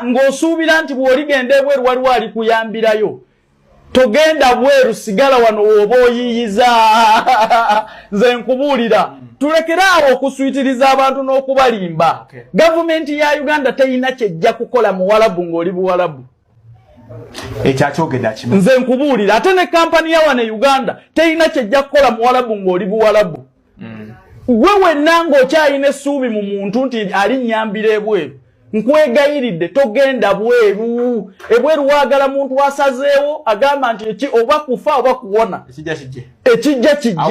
ng'osuubira nti bw'oligenda ebweru waliwo alikuyambirayo togenda bweru sigala wano wooba oyiyiza nze nkubuulira tulekere awo okuswitiriza abantu n'okubalimba gavumenti ya uganda terina kyejja kukola muwalabu ng'oli buwalabu ekyo akyogedde akimu nze nkubuulira ate ne kampani ya wano e uganda terina kyejja kukola muwalabu ng'oli buwalabu mm. gwe wenna ng'okyalina essuubi mu muntu nti ali nnyambira ebweru nkwegayiridde togenda bweru ebweru wagala muntu asazeewo agamba nti eki oba kufa oba kuwona ekijja kijje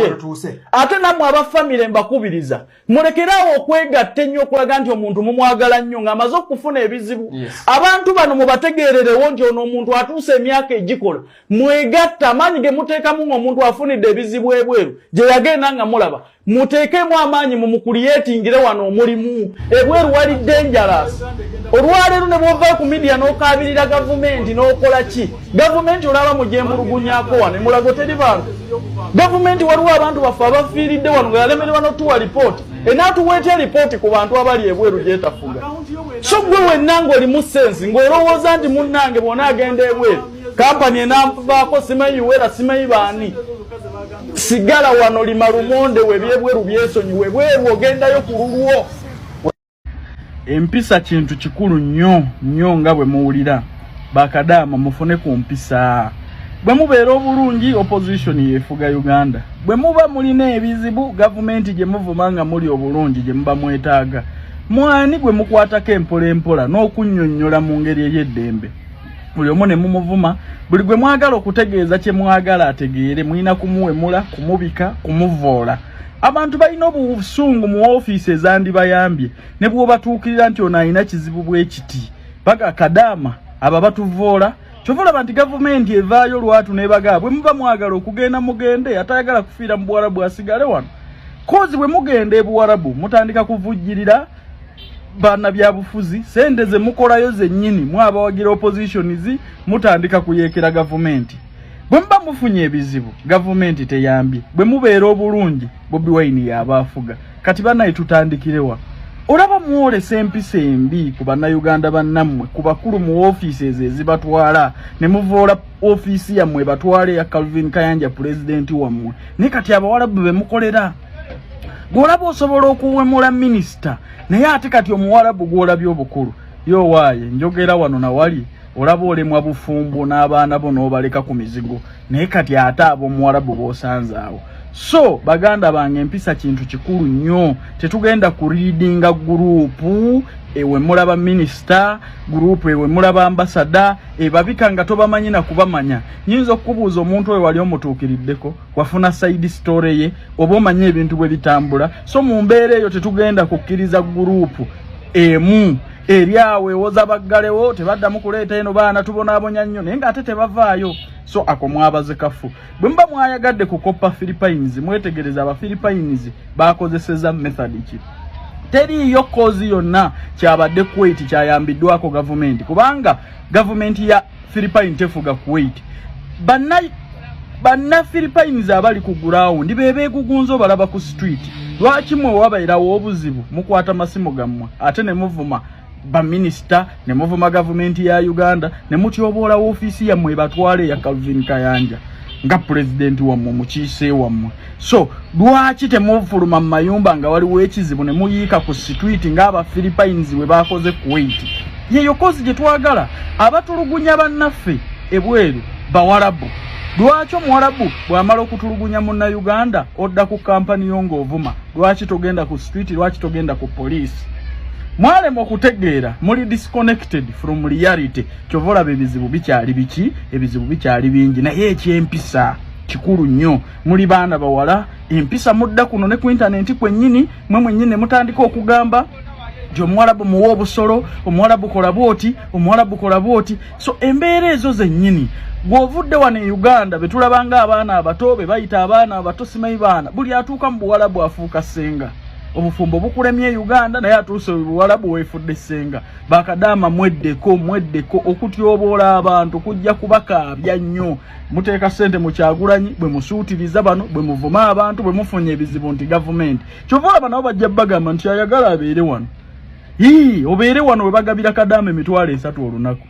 ate namwe abafamire mbakubiriza mulekeraawo okwegatta ennyo okulaga nti omuntu mumwagala nnyo ng'amaze okufuna ebizibu abantu bano mubategeererewo nti ono omuntu atuusa emyaka egikola mwegatta amaanyi ge muteekamu ng'omuntu afunidde ebizibu ebweru gye yagenda nga mulaba muteekemu amaanyi mumukuliyetingire wano omulimu ebweru walidde enjala olwaleero ne bwovayo ku midiya n'okaabirira gavumenti n'okola ki gavumenti olaba mugyemulugunyako wano emulago teri bantu gavumenti waliwo abantu baffe abafiiridde wano nga yalemererwa notuwa lipooti enaatuwa etya lipooti ku bantu abali ebweru gyetafuga so gwe wenna ngaoli mu sensi ng'olowooza nti munnange bwona agenda ebweru kampani enanvaako simanyi uwera simanyi baani sigala wano lima lumonde webyebweru byesonyiwe bweru ogendayo ku lulwo empisa kintu kikulu nnyo nnyo nga bwe muwulira bakadaama mufune ku mpisa bwe mubeera obulungi opposition yefuga uganda bwe muba mulina ebizibu gavumenti gye muvuma nga muli obulungi gye muba mwetaaga mwani gwe mukwatako empola empola n'okunnyonnyola mu ngeri ey'eddembe buli omu ne mumuvuma buli gwe mwagala okutegeeza kye mwagala ategeere mulina kumuwemula kumubika kumuvoola abantu balina obusungu mu ofiisi ezandibayambye ne bwobatuukirira nti ono alina kizibu bwekiti baga kadaama abo abatuvoola kyova olaba nti gavumenti evaayo lwatu nebagaa bwe muba mwagala okugenda mugende atayagala kufiira mu buwarabu asigale wano kozi bwe mugenda ebuwarabu mutandika kuvujjirira bana byabufuzi sente ze mukolayo zennyini mwabawagira oppositions mutandika kuyekera gavumenti bwe muba mufunye ebizibu gavumenti teyambye bwe mubeera obulungi bobi wayini yaaba afuga kati banaye tutandikirewa olaba mwolesa empisa embi ku bannayuganda bannammwe ku bakulu mu ofiisi ezo ezibatwala ne muvoola ofiisi yammwe ebatwala eya calvin kayanja pulezidenti wammwe naye kati abawalabu be mukolera gwolaba osobola okuwemula minisita naye ate kati omuwalabu gwolabye obukulu yo waaye njogera wano nawali olaba olemwa bufumbo n'abaana bo n'obaleka ku mizigo naye kati ate ab'omuwarabu b'osanze awo so baganda bange empisa kintu kikulu nnyo tetugenda ku riidinga guruupu ewe mulaba minisita guruupu ewe mulaba ambasada ebabika nga tobamanyi na kubamanya nyinza okukubuuza omuntu oyo wali omutuukiriddeko wafuna saidi sitore ye oba omanyi ebintu bwe bitambula so mu mbeera eyo tetugenda kukkiriza guruupu emu ebyawo ewoza baggalewo tebaddamu kuleeta eno baana tubonaabonya nnyo naye ng'ate tebavaayo so ako mwabaze kafu bwe muba mwayagadde kukoppa philippines mwetegereza abaphilippines bakozeseza method ki teriiyo koozi yonna kyabadde kuwaiti kyayambiddwako gavumenti kubanga gavumenti ya philippine tefuga kuwait banna banna philippines abali ku gurawundi be beegugunza obalaba ku street lwaki mwe wabairawo obuzibu mukwata masimu gammwe ate ne muvuma baminisita ne muvuma gavumenti ya uganda ne mutyoboola woofiisi yammwe ebatwala eya calvin kayanja nga pulezidenti wammwe mukiise wammwe so lwaki temufuluma mu mayumba nga waliwo ekizibu ne muyiika ku situiti ng'aba philippines bwe baakoze kuwaiti yeyo kozi gye twagala abatulugunya bannaffe ebweru bawalabu lwaki omuwalabu bw'amala okutulugunya munnayuganda odda ku kampani yo ng'ovuma lwaki togenda ku situiti lwaki togenda ku poliisi mwalema okutegeera muli disconnected from reality kyova olaba ebizibu bikyali biki ebizibu bikyali bingi naye ekyempisa kikulu nnyo muli baana bawala empisa mudda kuno ne ku intanenti kwennyini mwe mwennyini ne mutandika okugamba nti omuwalabu muwa obusolo omuwalabu kola bwoti omuwalabu kola bwoti so embeera ezo zennyini gwovudde wano e uganda betulabanga abaana abato be bayita abaana abato simayi baana buli atuuka mu buwalabu afuuka ssenga obufumbo bukulemye e uganda naye atuuse buwalabu wefudde ssenga bakadaama mweddeko mweddeko okutyoboola abantu kujja kubakaabya nnyo muteeka sente mu kyagulanyi bwe musuutiriza bano bwe muvuma abantu bwe mufunye ebizibu nti gavumenti kyova olaba nabo bajja bagamba nti ayagala abeere wano ii obeere wano we bagabira kadaama emitwalo esatu olunaku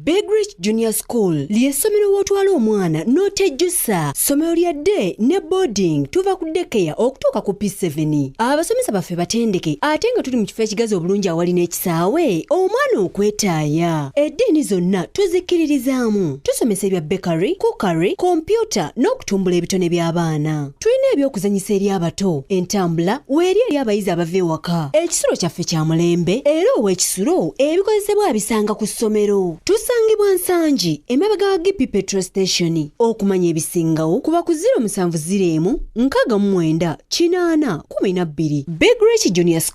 Big Rich Junior School ly'essomero w'otwala omwana n'otejjusa ssomero lya day ne boarding tuva ku dekeya okutuuka ku P7 abasomesa baffe batendeke ate nga tuli mu kifo ekigazi obulungi awali Saawe omwana okwetaaya. Eddiini zonna tuzikkiririzaamu. Tusomesa ebya bakery, cookery, kompyuta n'okutumbula ebitone by'abaana. Tulina eby'okuzannyisa eri abato, entambula weeri eri abayizi abava ewaka. Ekisulo kyaffe kya mulembe era ow'ekisulo ebikozesebwa abisanga ku ssomero. Tusangibwa Nsangi emabega wa GP Petrol Station. Okumanya ebisingawo kuba ku 0704 64 12. Big Rich Junior School.